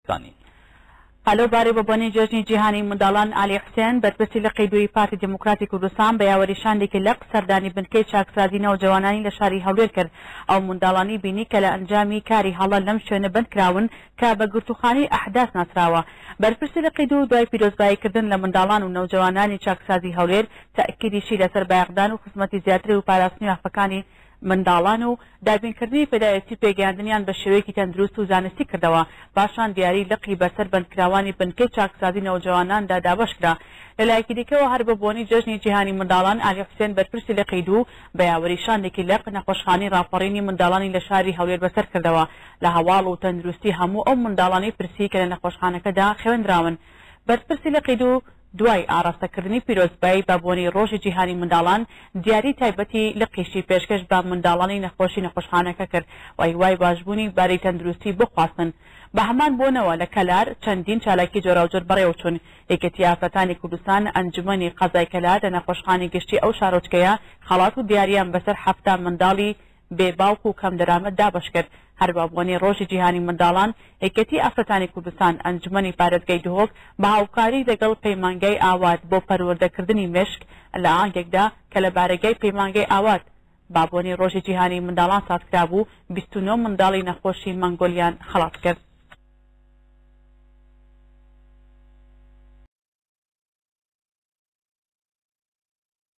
زانی. ئەلۆ بارێ بە بۆنەی جێژنی جیهانیی منداڵان، عەلی حوسێن، بەرپرسی لقی دووی پارتی دیموکراتی کوردستان بە یاوەری شاندێکی لق سەردانی بنکەی چاکسازیی نەوجەوانانی لە شاری هەولێر کرد، ئەو منداڵانەی بینی کە لە ئەنجامی کاری هەڵە لەم شوێنە بەند کراون کە بە گرتووخانەی ئەحداس ناسراوە. بەرپرسی لقی دوو دوای پیرۆزبایی کردن لە منداڵان و نەوجەوانانی چاکسازیی هەولێر، تەئکیدیشی لەسەر بایەخدان و خزمەتی زیاتری و پاراستنی مافەکانی منداڵان و دابینکردنی پێداویستی پێگەیاندنیان بە شێوەیەکی تەندروست و زانستی کردەوە، پاشان دیاری لقی بەسەر بەندکراوانی بنکەی چاکسازی نەوجەواناندا دابەشکرا. لەلایەکی دیکەوە هەر بە بۆنەی جەژنی جیهانی منداڵان، ئالی حوسێن بەرپرسی لقی دوو، بە یاوەری شاندێکی لق، نەخۆشخانەی ڕاپەڕینی منداڵانی لە شاری هەولێر بەسەر کردەوە، لە هەواڵ و تەندروستی هەموو ئەو منداڵانەی پرسی کە لە نەخۆشخانەکەدا خەوێندراون. بەرپرسی لقی دوو، دوای ئاڕاستەکردنی پیرۆزبایی بە بۆنەی ڕۆژی جیهانی منداڵان، دیاری تایبەتی لقیشی پێشکەش بە منداڵانی نەخۆشی نەخۆشخانەکە کرد و هیوای باشبوونی باری تەندروستی بۆ خواستن. بە هەمان بۆنەوە لە کەلار چەندین چالاکی جۆراوجۆر بەڕێوەچوون، یەکێتی ئافرەتانی کوردستان، ئەنجومەنی قەزای کەلار لە نەخۆشخانەی گشتی ئەو شارۆچکەیە خەڵات و دیارییان بەسەر حەفتا منداڵی بێ باوک و کەم دەرامەت دابەشکرد، هەر بە بۆنەی ڕۆژی جیهانی منداڵان، یەکێتی ئافرەتانی کوردستان ئەنجومەنی پارێزگای دهۆک بە هاوکاری لەگەڵ پەیمانگای ئاوات بۆ پەروەردەکردنی مێشک لە ئاهەنگێکدا کە لە بارەگای پەیمانگای ئاوات بە بۆنەی ڕۆژی جیهانی منداڵان سازکرابوو، بیست و نۆ منداڵی نەخۆشی مەنگۆلیان خەڵاتکرد.